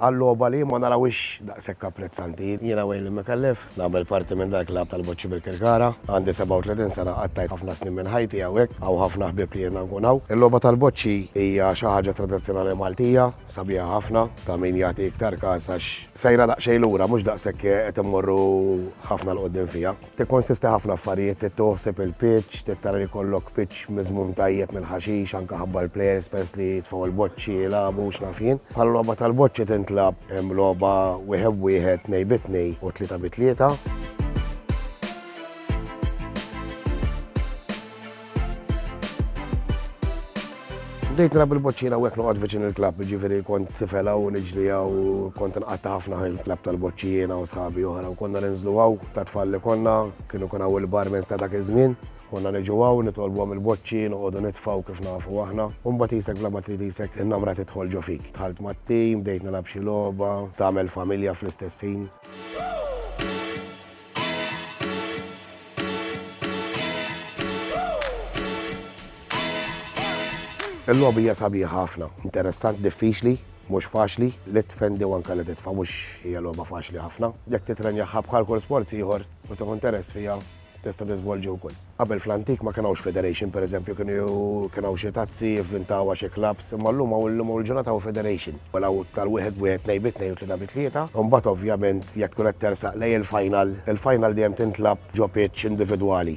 Għal logħba li jien ma narawhiex daqshekk apprezzanti. Jiena Waylon Micallef, nagħmel parti minn dal-klabb tal-Boċċi Birkirkara. Għandi 37 sena, qattajt ħafna snin minn ħajti hawnhekk, hawn ħafna ħbieb li għidna nkun hawn. Il-logħba tal-boċċi hija xi ħaġa tradizzjonali Maltija, sabiħa ħafna, ta' min jagħti iktar kas għax sejra daqsxejn lura, mhux daqshekk qed immorru ħafna 'l quddiem fiha. Tikkonsisti ħafna affarijiet, trid tieħu ħsieb il-pitch, trid tara li jkollok pitch miżmum tajjeb mill-ħaxix anke ħabba l-plejers peress li jitfgħu l-boċċi jilagħbu x'naf jien. Bħala logħba tal-boċċi tintlagħab hemm logħba wieħed b'wieħed, tnejn bi tnejn u tlieta bi tlieta. Bdejt nilgħab il-boċċina u hekk noqgħod viċin il-klabb, jiġifieri kont tifela u niġliha u kont inqatta' ħafna ħin il-klabb tal-boċċina u sħabi oħra u konna ninżlu hawn ta' tfal li konna, kienu kun hawn il-barmens ta' dak iż-żmien, konna niġu hawn nitolbuhom il-boċċi, noqogħdu nitfgħu kif nafu aħna. U mbagħad isek bla ma trid isek in-namra tidħol ġo fik. Dħalt mat-tim, bdejt nilgħab xi logħba, tagħmel familja fl-istess ħin. Il-logħba hija sabiħa ħafna, interessant, diffiċli, mhux faċli, li tifendi u anke li titfa' mhux hija logħba faċli ħafna. Jekk titrenjaha bħal kull sports ieħor u tieħu interess fiha tista' tiżvolġi wkoll. Qabel fl-antik ma kien hawnx federation, per eżempju kien hawn xi tazzi jivvintawha xi clubs, imma llum hawn illum hawn il-ġurnata hawn federation. Mela hawn tal wieħed b'wieħed, tnejn bi tnejn u tlieta bi tlieta. Imbagħad ovvjament jekk tkun qed tersaq lejn il-final, il-final dejjem tintlagħab ġo pitch individwali.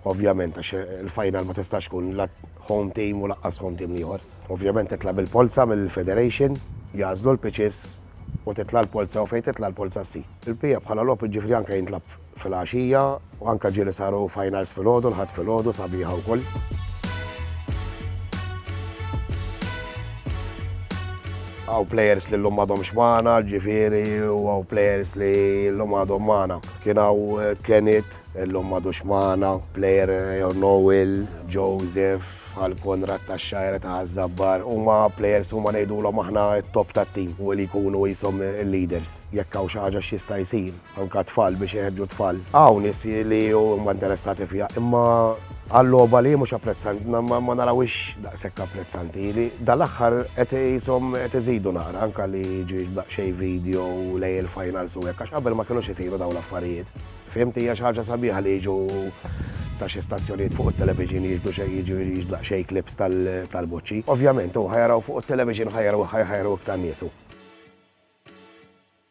Ovvjament għax il-final ma tistax tkun la home team u laqqas home team l-ieħor. Ovvjament titla' bil-polza mill-federation, jagħżlu l-pitches u titla' l-polza u fejn titla' l-polza ssi. Il-PF bħala logħob jiġifieri anke jintlagħab filgħaxija u anke ġieli saru finals filgħodu, l-Ħadd filgħodu sabiħa wkoll. Għaw players li l-lum għadhom xmana, ġifiri, u għaw players li l-lum għadhom mana. Kien għaw eh, Kenit, l-lum għadu xmana, player eh, jew Noel, Joseph, għal Konrad ta' xajra ta' Zabbar, u ma players u ma nejdu l aħna top ta' team u li kunu jisom il-leaders, jekk għaw xaġa xista jisir. Anke t-tfal biex iħeġġu t-tfal. Hawn nies li huma interessati fiha imma għal logħba li hi mhux apprezzanti, ma narawhiex daqshekk apprezzanti. Li dal-aħħar qed qishom qed iżidu naqra anke li jiġu daqsxejn video lejn il-finals u hekk għax qabel ma kinux isiru dawn l-affarijiet. Fhimt hija xi ħaġa sabiħa li jiġu ta' xi stazzjonijiet fuq it-television jiġbdu xejn jiġu jiġu daqsxejn clips tal-boċċi. Ovvjament hu ħa jaraw fuq it-television ħa jaraw ħa jaraw iktar nies hu.